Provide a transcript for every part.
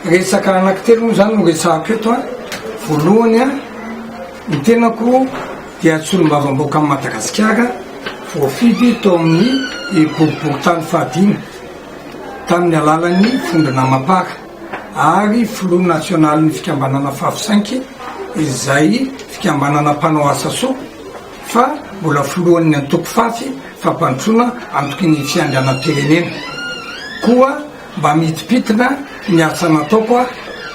Resaka anankitelo moa izany no resahako eto a. Voalohany a, ny tenako dia solombavambahoaka an'i Madagasikara voafidy tao amin'ny boriborintany fahadimy tamin'ny alalan'ny vondrona Mapar ary filoha nasionalin'ny fikambanana Favisainky izay fikambanana mpanao asa soa fa mbola filohan'ny antoko fafy fampandrosoana antoky ny fiandrianam-pirenena koa mba mihitimpitina ny asa nataoko aho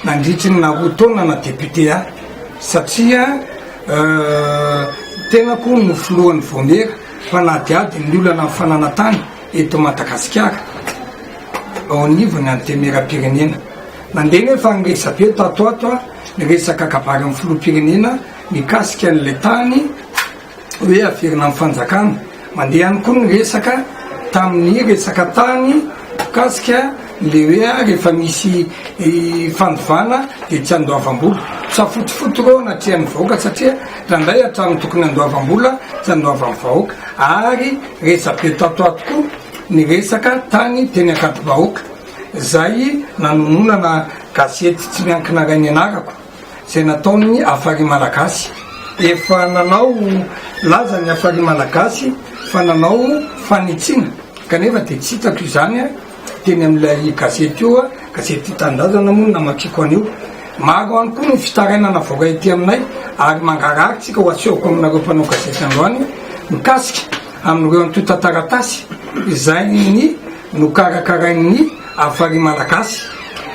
nandritry ny naha roa taona na député ahy satria ny tenako no filohan'ny vaomiera mpanadihady ny olana ny fananantany eto Madagasikara ao anivon'ny antenimieram-pirenena. Nandeha anefa ny resabe tato ho ato ny resaka kabary amin'ny filoham-pirenena. Mikasika an'ilay tany hoe haverina amin'ny fanjakana, mandeha ihany koa ny resaka tamin'ny resaka tany mikasika ilay hoe rehefa misy fandovana dia tsy andoavam-bola. Misafotofoto ireo anatrehan'ny vahoaka satria raha indray hatramin'ny tokony handoavam-bola tsy andoavan'ny vahoaka ary resa-be tato ho ato koa ny resaka tany teny Ankadivahoaka izay nanononana gazety tsy miankina iray nianarako. Izay nataon'ny Afari Malagasy. Efa nanao laza ny Afari Malagasy fa nanao fanitsiana kanefa dia tsy hitako izany teny amin'ilay gazety io, gazety Tia Tanindrazana moa no namakiako an'io. Maro ihany koa ny fitarainana avoaka ety aminay ary mangarahara tsika ho asehoko aminareo mpanao gazety androany mikasika amin'ireo antontan-taratasy izay nokarakarain'ny. Afari Malagasy,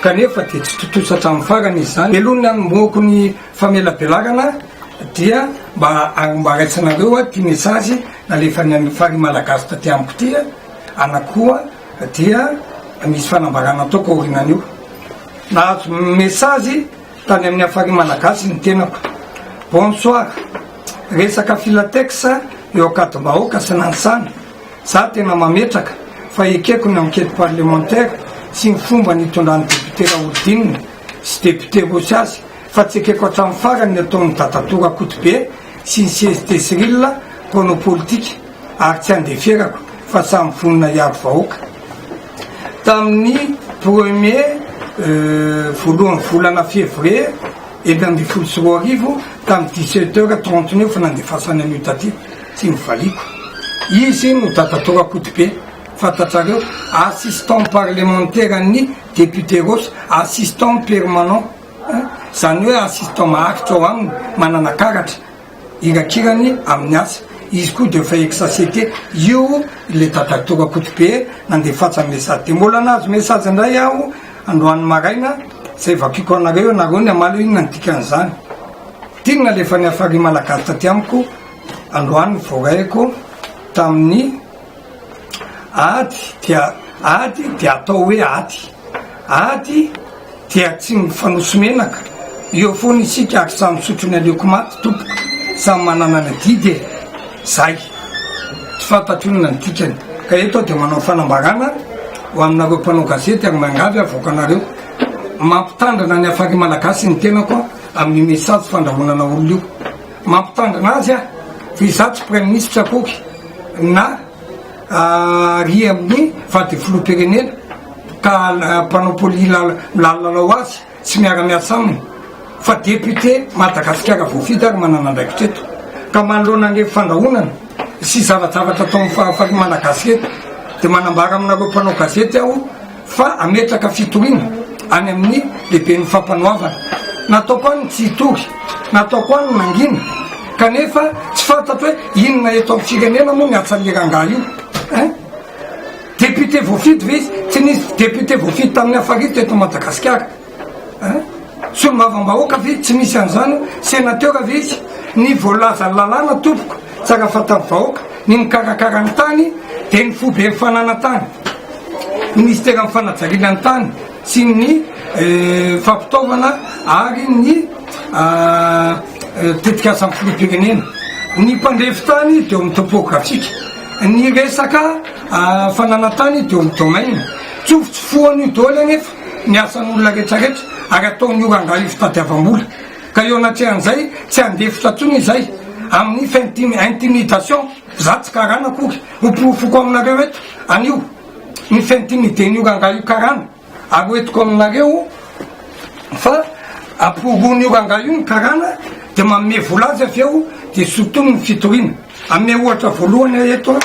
kanefa dia tsy tontosa hatramin'ny farany izy izany. Helohin'ny nanombohako ny famelabelarana dia mba hanombaraitsinareo ity message nalefan'ny Afari Malagasy taty amiko ity, ana koa dia misy fanambarana ataoko aorinan'io. Nahazo message tany amin'ny Afari Malagasy ny tenako. Bonsoir, resaka Filatex eo Ankadimbahoaka sy Nanisana. Za tena mametraka fa ekeko ny enquête parlementaire sy ny fomba nitondran'ny député Raholidinina sy député Rossy azy fa tsy ekeko hatramin'ny farany ny ataon'i Dadatoa Rakotobe sy ny CST Cyrille mpanao politika ary tsy andeferako fa samy vonona hiaro vahoaka tamin'ny premier voalohan'ny volana février enina ambin'ny folo sy roa arivo tamin'ny dix-sept heures trente-neuf nandefasany an'io taty Tsy novaliako. Izy no dada tao Rakotobe, fantatrareo, assistant parlementaire an'ny député Rossy, assistant permanent, izany hoe assistant maharitra ao aminy, manana karatra irakirany amin'ny asa. Izy koa dia efa ex-ACT. Io ilay dada tao Rakotobe nandefasan'ny message. Dia mbola nahazo message indray aho androany maraina, izay vakiako anareo, ianareo ny hamaly hoe inona ny dikan'izany. Dingana ilay efa nihafar'i Malagasy taty amiko. androany voraiko tamin'ny ady dia ady dia atao hoe ady ady dia tsy mifanoso menaka eo foana isika ary samy sotro ny aleoko maty tompoko samy manana ny didy e zay tsy fantatro inona ny dikany ka eto dia manao fanambarana ho aminareo mpanao gazety ary miangavy avoaka anareo mampitandrina ny afari malagasy ny tenako amin'ny message fandrahonana olona io Mampitandrina azy aho fa izaho tsy praiminisitra akoky na ary amin'ny vady filoham-pirenena ka mpanao poli lalao azy tsy miara-miasa aminy fa député Madagasikara voafidy ary manana andraikitra eto ka manoloana an'ireny fandrahonana sy zava-javatra ataon'ny fahafaham-malagasy ireto dia manambara aminareo mpanao gazety aho fa hametraka fitoriana any amin'ny lehiben'ny fampanoavana. Nataoko any ny tsy hitory, nataoko any ny mangina, kanefa tsy fantatro hoe inona eto amin'ny firenena moa ny hatsalia rangahy io eh? Député voafidy ve izy? Tsy nisy député voafidy tamin'ny Afaridy teto Madagasikara. Hein? Solombavambahoaka ve tsy misy an'izany? Senateur ve izy? Ny voalazan'ny lalàna tompoko, tsara fantan'ny vahoaka, ny mikarakara ny tany dia ny foiben'ny fananantany, Ministeran'ny fanajariana ny tany sy ny fampitaovana ary ny tetikasan'ny filoham-pirenena. Ny mpandrefy tany dia eo amin'ny topografika. Ny resaka fananantany dia eo amin'ny domaine. Tsofotsofohana io daholo anefa. ny asan'olona rehetra rehetra ary ataon'ny ora angaly fitadiavam-bola ka eo anatrehan'izay tsy handefitra intsony izay amin'ny fintimi intimidation za tsy karana akory ho porofoko aminareo eto anio ny fintimiden'ny ora angaly io karana ary ho etiko aminareo fa aporoan'ny ora angaly io ny karana dia manome vola azy avy eo dia sotomy ny fitoriana ame ohatra voalohany ahy eto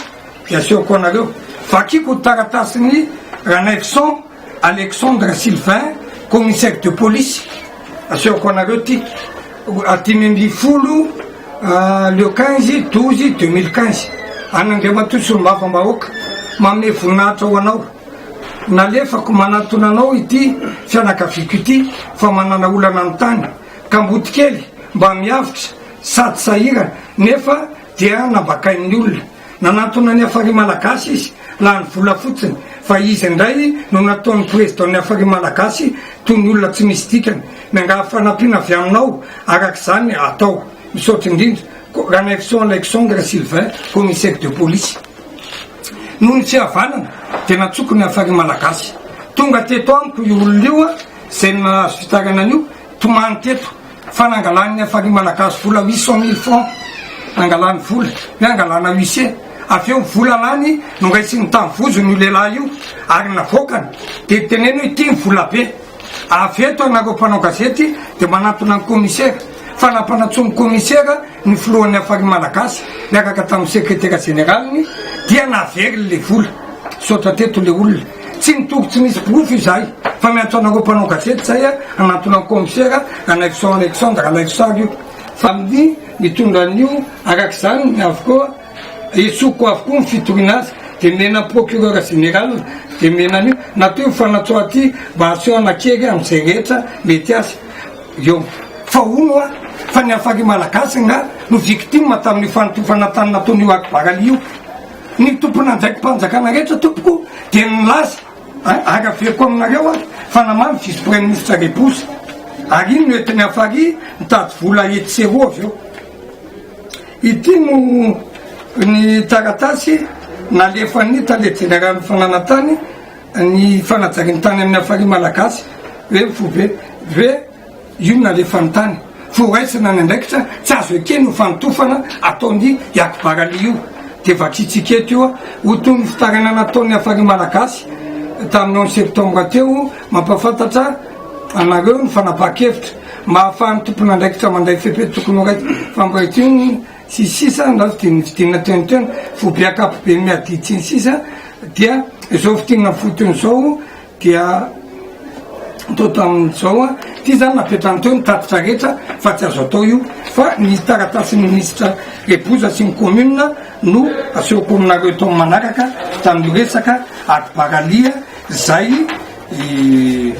dia asehoko anareo vakiko taratasy ny Ranaivoson Alexandre Sylvain, commissaire de police, asehoko anareo ity, dimy ambin'ny folo le quinze douze deux mille quinze, an'Andriamatoa Solombavambahoaka, manome voninahitra ho anao, nalefako manatona anao ity fianakaviako ity fa manana olana ny tany, kamboty kely mba miavotra sady sahirana nefa dia nambakain'ny olona. Nanantona ny Afari Malagasy izy, lany vola fotsiny, fa izy indray no nataony Président ny Afari Malagasy toy ny olona tsy misy dikany. Miangavy fanampiana avy aminao araka izany atao. Misaotra indrindra. Ranaivoson Alexandre Sylvain, Commissaire de Police. Noho ny tsy havanana dia natsoko ny Afari Malagasy. Tonga teto amiko io olona io izay nahazo fitarainana io, tomany teto. Fa nangalan'ny Afari Malagasy vola huit cent mille francs, nangalany vola, hoe hangalana huissier, avy eo ny vola lany no raisiny tamin'ny vozony io lehilahy io ary navoakany, dia niteneniny hoe ity ny vola be, avy eto ianareo mpanao gazety dia manantona ny Commissaire, fa nampanantsoin'ny Commissaire ny filohan'ny Afari Malagasy niaraka tamin'ny Secretaire Généraliny dia naveriny ilay vola, misaotra teto ilay olona. Tsy nitoky tsy misy porofo izahay fa miantso anareo mpanao gazety izay hanantona ny kaomisera Anaison Alexandre Ralaisosaly io fa ny nitondra an'io araka izany ny avokoa esoiko avokoa ny fitoriana azy dia nomena ny procureur général dia nomena an'io natao io fanatsoa aty mba hasehona kely amin'izay rehetra mety azy eo fa hono a fa ny hafari malagasy nga no victime tamin'io fanotofana tany nataon'io akbaraly io Ny tompon'andraiki-panjakana rehetra, tompoko, dia nilaza, Araveko aminareo aho fa namaly ny vice-praiminisitra Reboza, ary iny no entiny afary nitady vola etsy sy eroa avy eo. Ity no ny taratasy nalefan'ny tale jeneralin'ny fananantany ny fanajarian-tany amin'ny hafariana malagasy, hoe FOVEV. Io no nalefany tany. Fa horaisina ny andraikitra tsy azo ekena io fanotofana ataon'i i Akbar Ali io. Dia vakiantsika eto io ho toy ny fitarainana nataon'ny Hafari Malagasy tamin'ny onze septembre teo. Mampahafantatra anareo ny fanapahan-kevitra mba hahafahan'ny tompon'andraikitra mandray fepetra tokony ho raisina fampiratiana sy ny sisa na fidinana fidinana teo no teo. Foibe ankapobe miha ditsy sy ny sisa dia izao fidinana fotony izao. Dia atao tamin'izao an, ity zany napetrany teo ny tatitra rehetra fa tsy azo atao io fa ny taratasin'ny minisitra Reboza sy ny commune no asehoko aminareo eto amin'ny manaraka tamin'io resaka ady baralia zay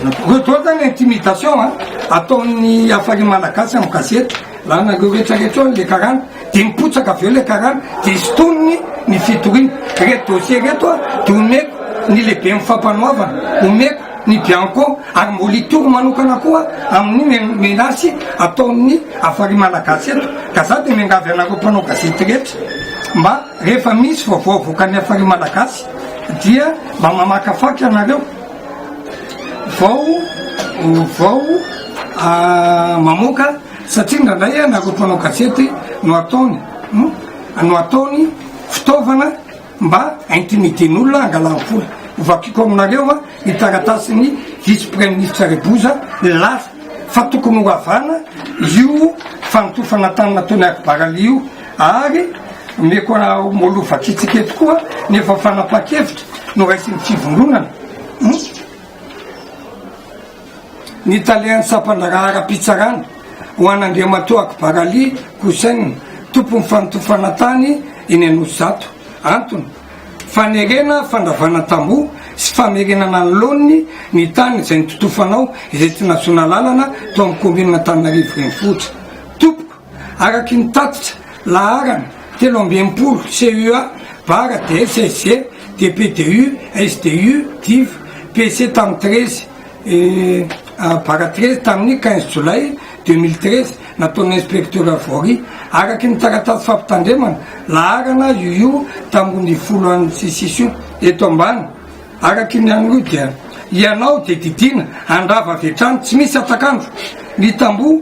natao. Reo zany intimidation an ataon'ny Hafari Malagasy amin'ny gazety. Raha nareo rehetra rehetra ao ilay karana dia mipotsaka avy eo ilay karana dia sintoniny ny fitoriana. Ireto dossier ireto dia omeko ny lehiben'ny fampanoavana, omeko ny bianco ary mbola hitory manokana koa amin'ny menasy ataon'ny Afari Malagasy eto. Ka za dia miangavy anareo mpanao gazety rehetra mba rehefa misy vaovao avoakan'ny Afari Malagasy dia mba mamakafaka ianareo. vao vao mamoaka satria indraindray a nareo mpanao gazety no ataony no ataony fitaovana mba intimidena olona hangalany vola hovakiko aminareo a ny taratasiny vice praiministra reboza milaza fa tokony horavana io fanotofana tany nataony akibaraly io Ary omeko anareo Molo vakitsika eto koa nefa fanapahan-kevitra noraisin'ny fivondronana ny talen'ny sampan-draharaha ara-pitsarana ho an'Andriamatoa Akbar Ali Hussein, tompon'ny fanotofana tany eny Anosizato. Antony, fanerena fandravana tamboho sy famerenana ny laoniny ny tany izay nototofanao izay tsy nahazoana alalana tao amin'ny kaominina Antananarivo Renivohitra. Tompoko. Araky ny tatitra laharana telo amby enimpolo CUA, var, DSSG, DPDU, SDU, div, PC tamin'ny treize var treize tamin'ny quinze jolay deux mille treize nataon'ny inspektera Vory araky ny taratasy fampitandremana laharana UU tamin'ny roa ambin'ny folo an'ny CCIS io eto ambany. Araky ny an'io dia. Ianao dia didiana handrava avy hatrany tsy misy atak'andro ny tamboho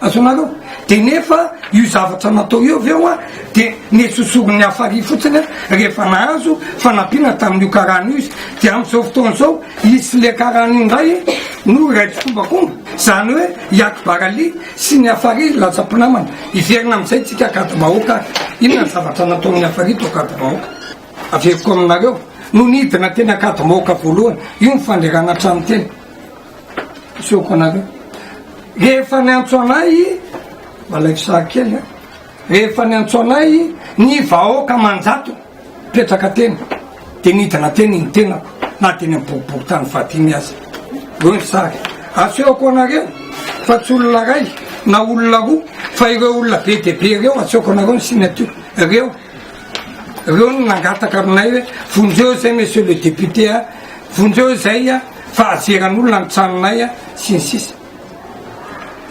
Azonareo? Dia nefa io zavatra natao io avy eo an, dia nesosorin'ny hafa ary fotsiny an, rehefa nahazo fanampiana tamin'io karana io izy. Dia amin'izao fotoana izao, izy sy ilay karana io indray no iray tsikombakomba. Izany hoe i Akbar Ali sy ny hafa ary lasa mpinamana. Hiverina amin'izay isika Akadibahoaka ary inona ny zavatra nataon'ny hafa ary tao Akadibahoaka. Averiko aminareo, nony hidina teny Akadimahoaka voalohany, io ny fanderana an-trano teny. Asehoko anareo. Rehefa niantso anay, malaiko sary kely a. Rehefa niantso anay ny vahoaka manjato petraka teny, dia nidina teny ny tenako na teny am-poripori-tany fahatimy aza. Eo ny sary. Asehoko anareo fa tsy olona ray na olona roa fa ireo olona be dia be ireo asehoko anareo ny signature. Ireo reo no nangataka aminay hoe vonjeo izay monsieur le député a vonjeo izay a fahajeran'olona ny tranonay a, sy ny sisa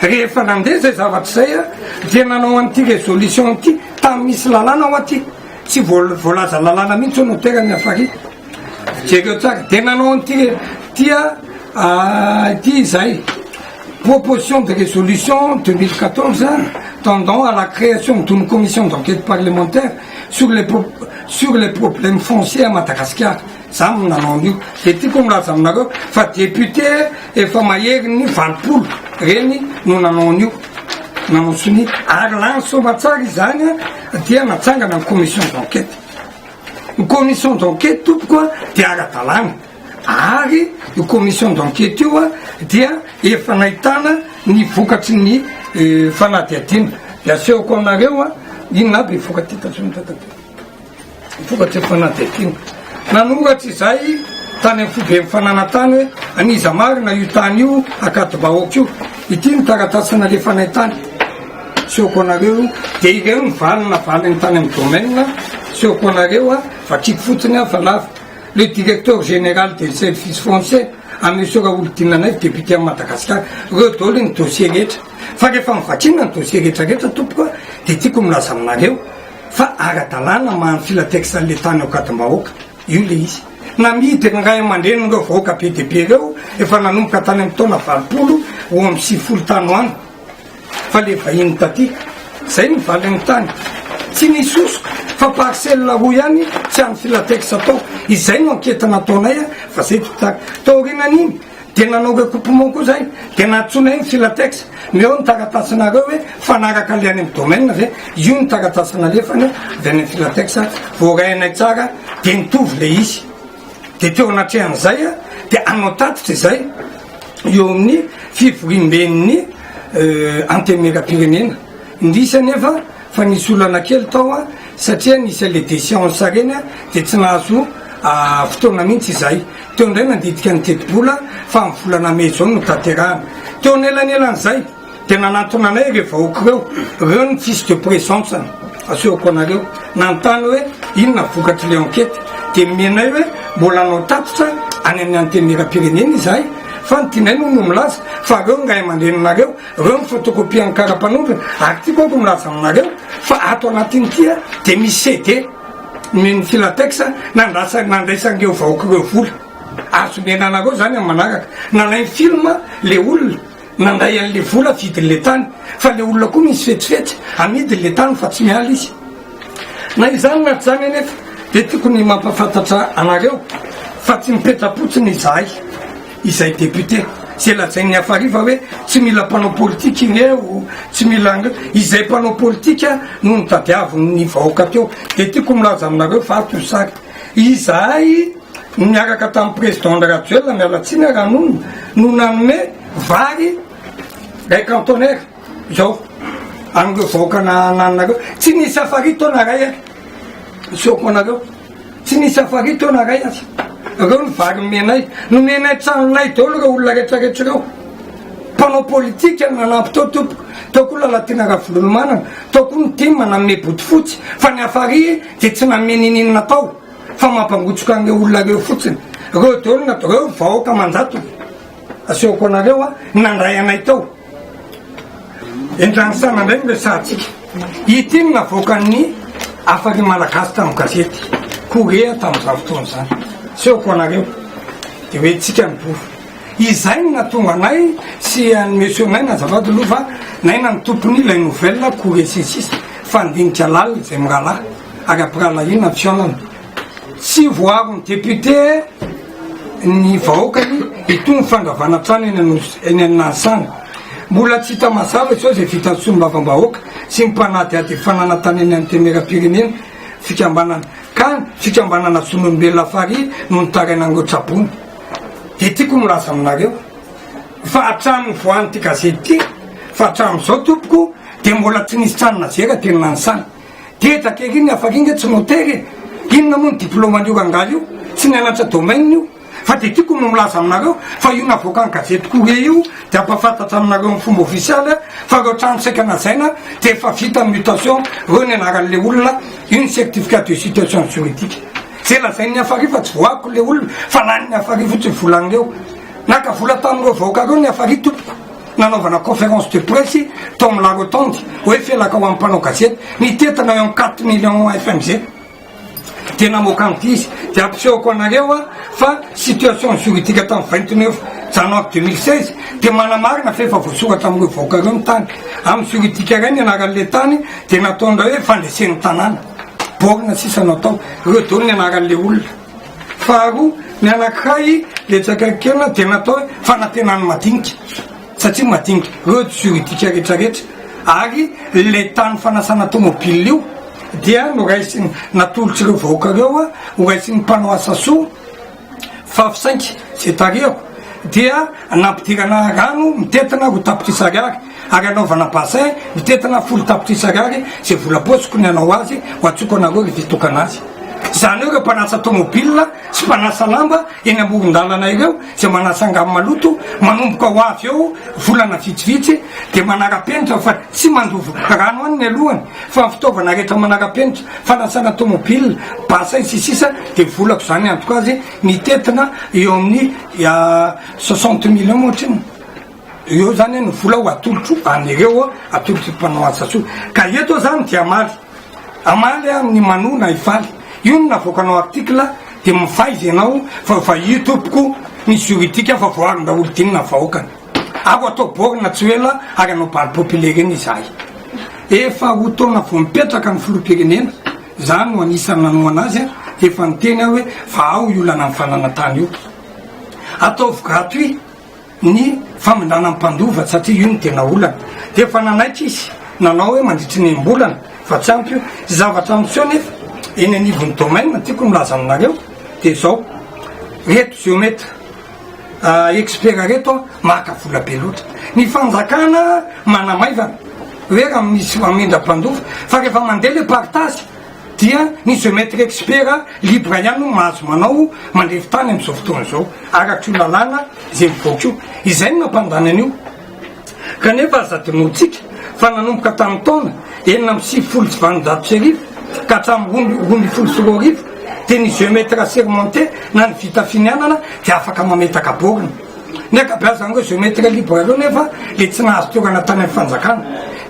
Rehefa nandeha izay zavatra izay a, dia nanao an'ity résolution ity tamin'ny misy lalàna ao aty, tsy voal- voalaza lalàna mihitsy hono tera ny hafariako. Jereo tsara, dia nanao an'ity tia ah, ity izay proposition de résolution 2014 tendant à la création d'une commission d'enquête parlementaire sur les, pro- sur les problèmes fonciers à Madagascar. Za no nanao an'io de tiako milaza aminareo fa député efa maherin'ny valopolo reny no nanao an'io, nanao sonia ary lany soamatsara izany dia natsangana ny commission d'enquête. Ny commission d'enquête tompoko a dia ara-dalàna ary io commission d'enquête io a dia efa nahitana ny vokatry ny fanadihadiana. De asehoko aminareo a inona aby ny vokatra tazominy tato atoa. Vokatry ny fanadihadiana nanoratra izahay tany amin'ny foiben'ny fananantany hoe an'iza marina io tany io ankadimbahoaka io. Ity ny taratasy nalefanay tany. Seoko anareo dia ireo ny valiny navaliny tany amin'ny domaine. Seoko anareo a, vakiako fotsiny aho fa lava. Le directeur général des services fonciers, à Monsieur Raholdina Naivo, député amin'i Madagasikara, ireo daholo ny dossier rehetra. Fa rehefa novakiana ny dossier rehetrarehetra tompoko a, dia tiako milaza aminareo, Fa ara-dalàna maha filateksa an'le tany ao Kadim-bahoaka io le izy. Namidy ny ray aman-drenin'ireo vahoaka be dia be ireo efa nanomboka tany amin'ny taona valopolo roa amby sivifolo tany ho any fa le vahiny taty. Zay ny valin'ny tany. Tsy nisy hosoka fa parcelle roa ihany tsy an'ny filateksa tao. Izay no ankety nataonay fa zay dikta. Taorianan'iny Dia nanao recoupement koa zay, dia nantsoina eo ny filatex, ny eo ny taratasinareo hoe fanaraka le any amin'ny domaine ve, io ny taratasy nalefany avy any amin'ny filatex, voarainay tsara dia nitovy le izy, dia teo anatrehan'izay a, dia hanao tatitra izay eo amin'ny fivoriamben'ny antenimieram-pirenena, indrisy anefa. Fa nisy olana kely tao an, satria nisy an'ilay déchéance ireny an, dia tsy nahazo fotoana mihitsy izahay. Teo indray nandidika ny tetibola fa amin'ny volana mey izao no hotanterahana. Teo anelanelan'izay dia nanantona anay ireo vahoaka ireo, ireo ny tsisy de présence an, asehoko anareo, nanontany hoe inona vokatr'ilay enquête. Dia nomenay hoe mbola hanao tatitra any amin'ny Antenimierampirenena izahay, fa ny tianay moa no milaza fa ireo ny ray aman-dreninareo, Reo ny photocopie ny karapanondrony ary ty koko milaza aminareo fa ato anatiny ty a de misy CD nen'ny filatex nandrasa nandraisan'ireo vahoaka ireo vola azo omena anareo zany amin'ny manaraka nalainy film le olona nandray an'le vola vidin'le tany fa le olona koa misy fetsifetsy amidin'le tany fa tsy miala izy na izany na tsy izany anefa de tiako ny mampafantatra anareo fa tsy mipetra-potsiny izahay izay député zay lazain'ny afariva hoe tsy mila mpanao politika ireo tsy mila ange izay mpanao politika no nitadiavin'ny vahoaka teo de tiako milaza aminareo fa tosaka izahay miaraka tamin'ny président ndra rajoelina mialatsina raha nony no nanome vary ray cantonnaire zao an'ireo vahoaka na nanareo tsy nisy afari taona ray a soako anareo Tsy nisy afary taona ray aza. Reo ny vary nomenay. Nomenay tranonay daolo reo olona retraretra reo. Mpanao politika nanampy tao tompoko. Tao koa Lalatiana Ravololomanana. Tao koa ny tim nanome bodofotsy. Fa ny afary dia tsy nanome ninininona tao. Fa mampangotsoka an'ireo olona reo fotsiny. Reo daolo natao. Reo vahoaka aman-jatony. Asehoko anareo a. Nandray anay tao. Entan'ny saina indray ny resahantsika. Ity no navoakan'ny Hafalian'ny Malagasy tamin'ny gazety Korea tamin'izany fotoana izany. Asehoko ho anareo. Dia hoe tsika ny bolo. Izay no nahatonga anay sy an'i Monsieur Naina azafady aloha fa Naina ny tompon'ny ilay nouvelle Korea sy ny sisa, fandinika lalina izay mirahalahy ary ampirahalahiana ny fihaonana. Tsy voaron'ny député ny vahoakany itony fandravana trano eny Anosy eny amin'ny Nanisanga. Mbola tsy hita mazava intsony izay vitan'ny solombavambahoaka sy ny mpanadihady ny fananantanan'ny Antenimierampirenena fikambanana kany fikambanana zon'olombelona farihy no nitaraina an'ireo tra-boina. Dia tiako milaza aminareo fa hatramin'ny voan'ity gazety ity fa hatramin'izao tompoko dia mbola tsy nisy trano nazera teny Nanisanga. Geja kely iny afaka iny nge tsy motery e! Inona moa ny diplôman'io rangahy io? Tsy nianatra domaine io? Fa dia tiako no milaza aminareo fa io navoakan'ny gazety Courrier io dia hampahafantatra aminareo amin'ny fomba ofisialy fa ireo trano saika najaina dia efa vita ny mutation ireo ny anaran'ilay olona, io ny certificat de situation juridique. Izay lazain'i Niafarihy fa tsy voahako ilay olona fa lanin'i Niafarihy fotsiny vola an'ireo. Naka vola tamin'ireo vahoaka ireo Niafarihy tompoko. nanaovana conférence de presse tao amin'ny la rotonde hoe felaka ho amin'ny mpanao gazety ny tetana eo amin'ny quatre millions fmg dia namoaka an'ity izy dia ampisehoko anareo a fa situation juridique tamin'ny vingt neuf janvier deux mille seize dia manamarina fa efa voasoratra amin'ireo vahoaka ireo ny tany amin'ny juridique iray ny anaran'ilay tany dia nataon'ireo hoe fandresen'ny tanàna borina sisa natao ireo daholo ny anaran'ilay olona Faharoa, ny anankiray dia tsy akaikinkelina dia natao hoe fanantenan'ny madinika satria madinika ireo juridique rehetra rehetra ary ilay tany fanasana tomobile io dia noraisiny natolotr'ireo vahoaka ireo a horaisin'ny mpanao asa soa fa fisainky izay tarihako dia nampidirana rano mitentina roa tapitrisa ariary Ary anaovana bassin mitentina folo tapitrisa ariary izay vola apotsiko ny hanao azy ho antsoiko anareo rehefa hitokana azy. Izany hoe ireo mpanasa tomobilina sy mpanasa lamba eny amoron-dalana ireo izay manasa angano maloto manomboka ho avy eo volana vitsivitsy dia manara-penitra fa tsy mandovo rano any ny alohany fa ny fitaovana rehetra manara-penitra fanasana tomobilina, bassin sy ny sisa dia volako izany hiantoka azy mitentina eo amin'ny soixante millions ohatry ny. Eo zany ny vola ho atolotro an'ireo atolotr'i mpanao asa soa. Ka eto zany dia hamaly. Hamaly aho ny manoa na hifaly. Io no navoakanao article dia mifaiza ianao fa efa io tompoko ny juridique fa voarin daholo dino na vahoakany. Ako atao borne tsy ho ela ary hanao bal populaire eny izahay. Efa roa taona vao mipetraka ny filoham-pirenena, za no anisan'ny nanohana azy dia efa niteny aho hoe fa ao io lanan'ny fananantany io. Ataovy gratuit. ny famindrana ny mpandova satria io no tena olana dia efa nanaiky izy nanao hoe mandritry ny enim-bolana fa tsy ampy io zavatra miseho nefa eny anivon'ny domaine tiako milaza aminareo dia izao reto geomètre ah, expert reto a maka vola be loatra ny fanjakana manamaivana hoe raha misy amindra-mpandova fa rehefa mandeha le partage dia ny geometre expert libre ihany no mahazo manao mandrefy tany amin'izao fotoana izao araka io lalàna izay mivoaka io, izay no nampandany an'io kanefa aza adinointsika fa nanomboka tamin'ny taona enina amby sivifolo sy valonjato sy arivo ka hatramin'ny roa ambin'ny folo sy roa arivo dia ny geometre assermenté na ny vita finianana dia afaka mametaka borne. Ny ankabeazany izany hoe jeu maitre libre ireo nefa dia tsy nahazo toerana tany amin'ny fanjakana.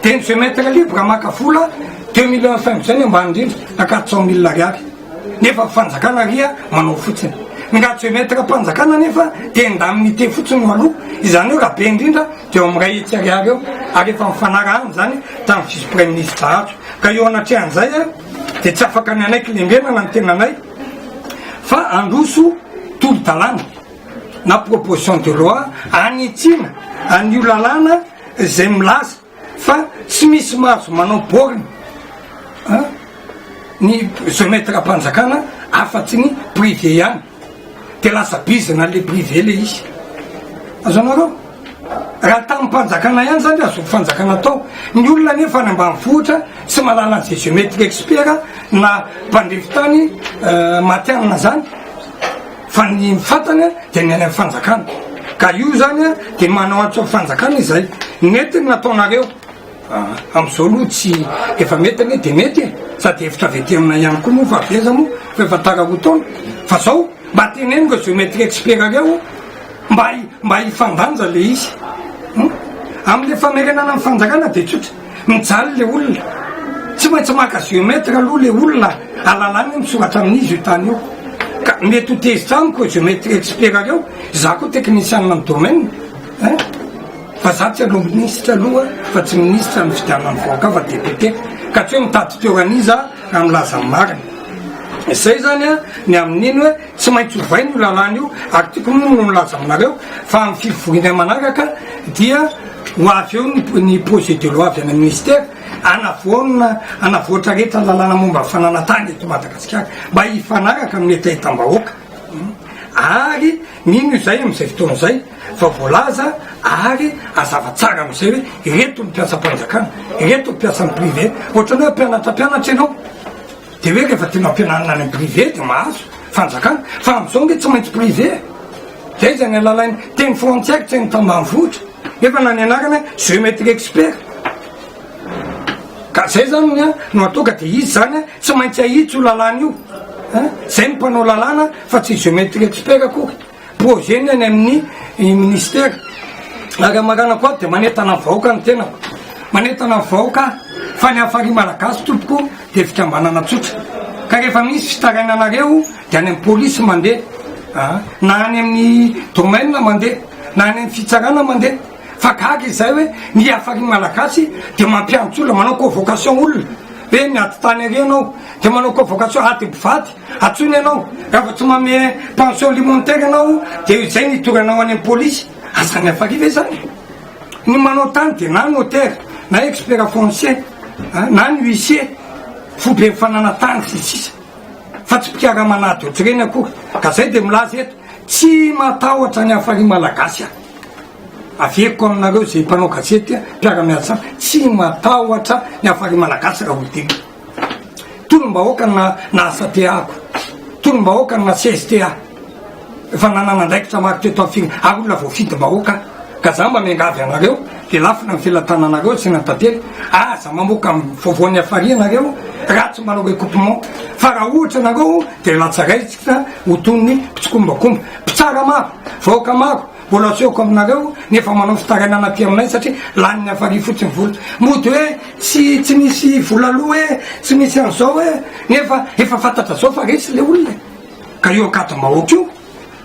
Dia ny jeu maitre libre maka vola deux millions cinq izay ny ambany indrindra na quatre cent mille ariary. Nefa ny fanjakana ria manao fotsiny. Ny raha jeu maitre am-panjakana nefa dia indemnité fotsiny no aloa. Izany hoe raha be indrindra dia eo amin'ny iray hetsy ariary eo ary efa nifanarahana izany tamin'ny vice praiminisitra Hajo. Ka eo anatrehan'izay dia tsy afaka ny anay kilembenana ny tenanay fa handroso tolo-dalàna. na proposition de loi hanitsiana an'io lalàna izay milaza fa tsy misy mahazo manao borne an ny geometram-panjakana afa-tsy ny privé ihany dia lasa bizina le privé le izy azonareo raha tamim-panjakana ihany zany azo fanjakana atao ny olona nefa any ambanivohitra tsy manala an'izay geometre expert na mpandrify tany matihanina zany Fa ny fantany dia ny any amin'ny fanjakana. Ka io izany dia manao antso amin'ny fanjakana izay. Nety ny nataonareo. Amin'izao aloha tsy, efa mety anie dia mety e! Sady hevitra avy aty aminay ihany koa moa fa avy aiza moa fa efa tara roa taona. Fa izao, mba teneno ireo géométrie expert ireo mba mba hifandanja ilay izy. Amin'ilay famerenana ny fanjakana dia tsotra. Mijaly le olona. Tsy maintsy maka géomètre aloha le olona alalany misoratra amin'izy io tany io. Ka mety ho tezitra amiko géomètre expert reo, za koa technicien amin'ny domaine eh. Fa za tsy aloha ministre aloha fa tsy ministre amin'ny fidianan'ny vahoaka fa député. Ka tsy hoe mitady toeran'iza raha milaza ny marina. Zay zany an ny amin'iny hoe. Tsy maintsy ovaina io lalàna io ary tiako moa no nilaza aminareo fa amin'ny fivorinay manaraka dia ho avy eo ny projet de loi avy any amin'ny ministère hanavoana, hanavoatra rehetra ny lalàna momba ny fananantany eto Madagasikara mba hifanaraka amin'ny hetahetam-bahoaka ary mino izay amin'izay fotoana izay fa voalaza ary hazava tsara amin'izay hoe ireto ny mpiasam-panjakana, ireto ny mpiasan'ny privé, ohatran'ny hoe mpianatra mpianatra ianao. Dia hoe rehefa tianao ampianarina any am privé dia mahazo fanjakana fa amzao ange tsy maintsy privé e! Zay zany alalainy teny frantsay tsy hainy tambanivohitra nefa na ny anarany hoe geometry expert ka zay zany ny no atao ka dia izy zany a tsy maintsy ahitsy io lalàna io a! Zay ny mpanao lalàna fa tsy geometry expert akory. Projet-ny any amin'ny Ministera. Ary amin'ny maranako ato dia manentana ny vahoaka ny tenako. Manentana ny vahoaka aho fa ny Hafari Malagasy tompoko dia fikambanana tsotra. Ka rehefa misy fitarainanareo dia any amin'ny Polisy mandeha an! Na any amin'ny Domaine mandeha, na any amin'ny Fitsarana mandeha. Fa gaga izahay hoe ny Hafari Malagasy dia mampiantso olona, manao convocation olona hoe miady tany ary ianao. Dia manao convocation ady mpivady. Antsoina ianao, raha vao tsy manome pension alimentaire ianao dia izay ny hidoranao any amin'ny polisy, asa ny hafaliana izany. Ny manao tany dia na notaire, na expert foncier, na ny huissier, foiben'ny fananantany sy ny sisa fa tsy mpikaraman'ady otrreny akory. Ka izay dia milaza eto, tsy matahotra ny hafalian'ny malagasy aho. Averiko aminareo izay mpanao gazety, mpiara-miasa amiko, tsy matahotra ny hafalian'ny malagasy raha olon-tena. Tolom-bahoaka ny naha-SATEA-ko, tolom-bahoaka ny naha-CSTEA, efa nanana andraikitra maro teto amin'ny firenena, ary olona voafidim-bahoaka aho, ka izaho mba miangavy anareo, dia lafona ny felatananareo atsy na tately, aza mamoaka vaovao nihafaria ianareo raha tsy manao recoupement, fa raha ohatra ianareo dia latsaraintsika ho toy ny mpitsikombakomba, mpitsara maro, vahoaka maro. Mbola asehoko aminareo ny efa manao fitarainana aty aminay satria lanin'ny hafaliany fotsiny vola. Mody hoe tsy tsy misy vola aloa e, tsy misy an'izao e, nefa efa fantatra zao fa resy le olona e. Ka io ankadimbahoaka io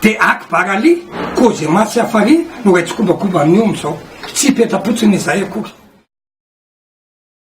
de akbar ali, kozema sy hafari no iray tsikombakomba amin'io amin'izao. Tsy hipetra-potsiny izahay akory.